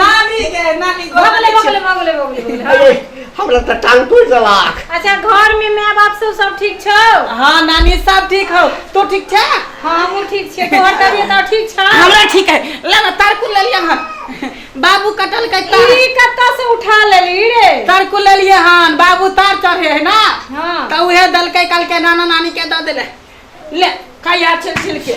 नानी के नानी भगले भगले भगले भगले अरे हमरा त टांग टूट जलाक अच्छा घर में माय बाप सब सब ठीक छौ हां नानी सब ठीक हो तू ठीक छ हां हमहु ठीक छियै तोहर तबियत और ठीक छ हमरा ठीक है ले ना तारकुल ले लिया हां बाबू कटल के तार ई कत्ता से उठा लेली रे तारकुल ले लिया हां बाबू तार चढ़े है ना हां त उहे दल के कल के नाना नानी के द देले ले खाया छिल छिल के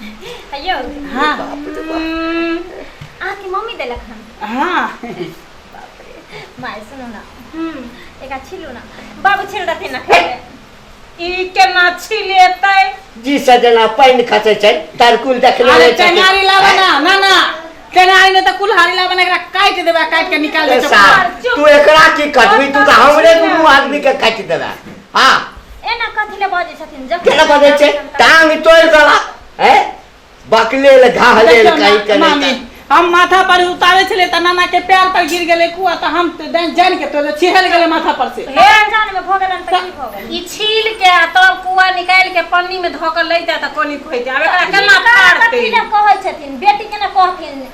अयो हाँ बाप रे बाप। हम्म, अहाँके मम्मी देलक हन हाँ बाप रे माय सुनू ना हम्म, एक अच्छी लू ना बाबू छिल रहते ना खेले ई केना छिलेतै जी सजना पानि खसै छै तरकुल देखले अरे रहै छथिन। टेंगारी लाबा ना ना ना टेंगारी ने तो कुल्हाड़ी लाबा ना एकरा काट देबा काट के निकाल ए दे साहब, तू एकरा की कटबी तू तऽ हमरे दुनू आदमी के काटि देबे आ एना कथी ले बजे छथिन जब केना बजे छै टांग तोड़ गला हैं बकले ले घाह ले ले काई करे मामी हम माथा पर उतारे छले त नाना के पैर पर गिर गेले कुआ त हम त जान- जान के तो छिहल गेले माथा पर से हे जान में भो गेलन त की भो गेलन ई छील के आ तब कुआ निकाल के पन्नी में धोकर ले जाता कोनी खोई दे अब एकरा केना फाड़ते कथी ले कहै छथिन बेटी के ना कहथिन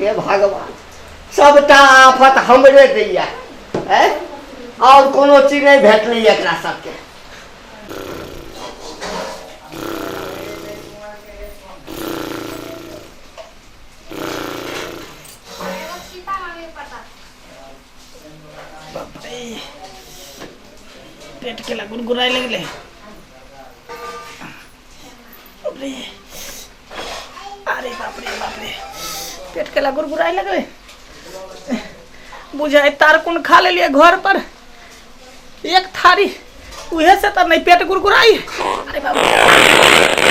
हे भगवान सभटा आफत हमरे दैया है और कोनो चीज नहीं भेटलै एकरा सबके पेट के लगुन गुराए लगले बापरे अरे बापरे बापरे पेट केला गुरगुराए लगले बुझाए तार कोन खा लेलिए घर पर एक थारी उहे से तो नहीं पेट गुरगुराई अरे बाप रे।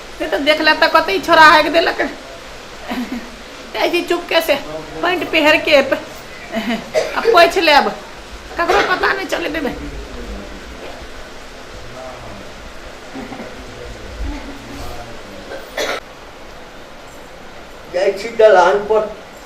से तऽ देख ले तऽ कतऽ छोड़ा हाकि देलक जाइ छी चुपके से पैंट पहिरके आ पोछि लेब ककरो पता नहि चले देबै जाइ छी दलान पर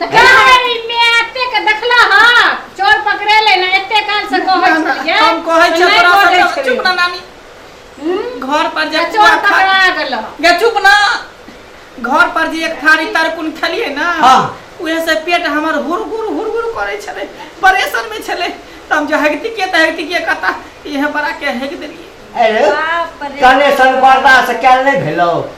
तऽ का है ई मैं एते के देखला ह चोर पकड़े ले ना एते काल से कहै ना, ना, छलिए हम कहै तऽ छियै नहि तोरा कहै सब- छलिए। चुप ना नानी हम्म, घर पर जे तऽ चोर पुआ खा- पकड़ा गेल ह। गे चुप ना घर पर जे एक थारी तरकुन खेलिए ना हाँ। उहे से पेट हमर हुरगुर हुरगुर करे छले परेशान में छले त हम जो हगती के त हगती के कता इहे बड़ा के हग देलिए अरे बाप रे कनेसन बर्दाश्त कयल नहि भेलौ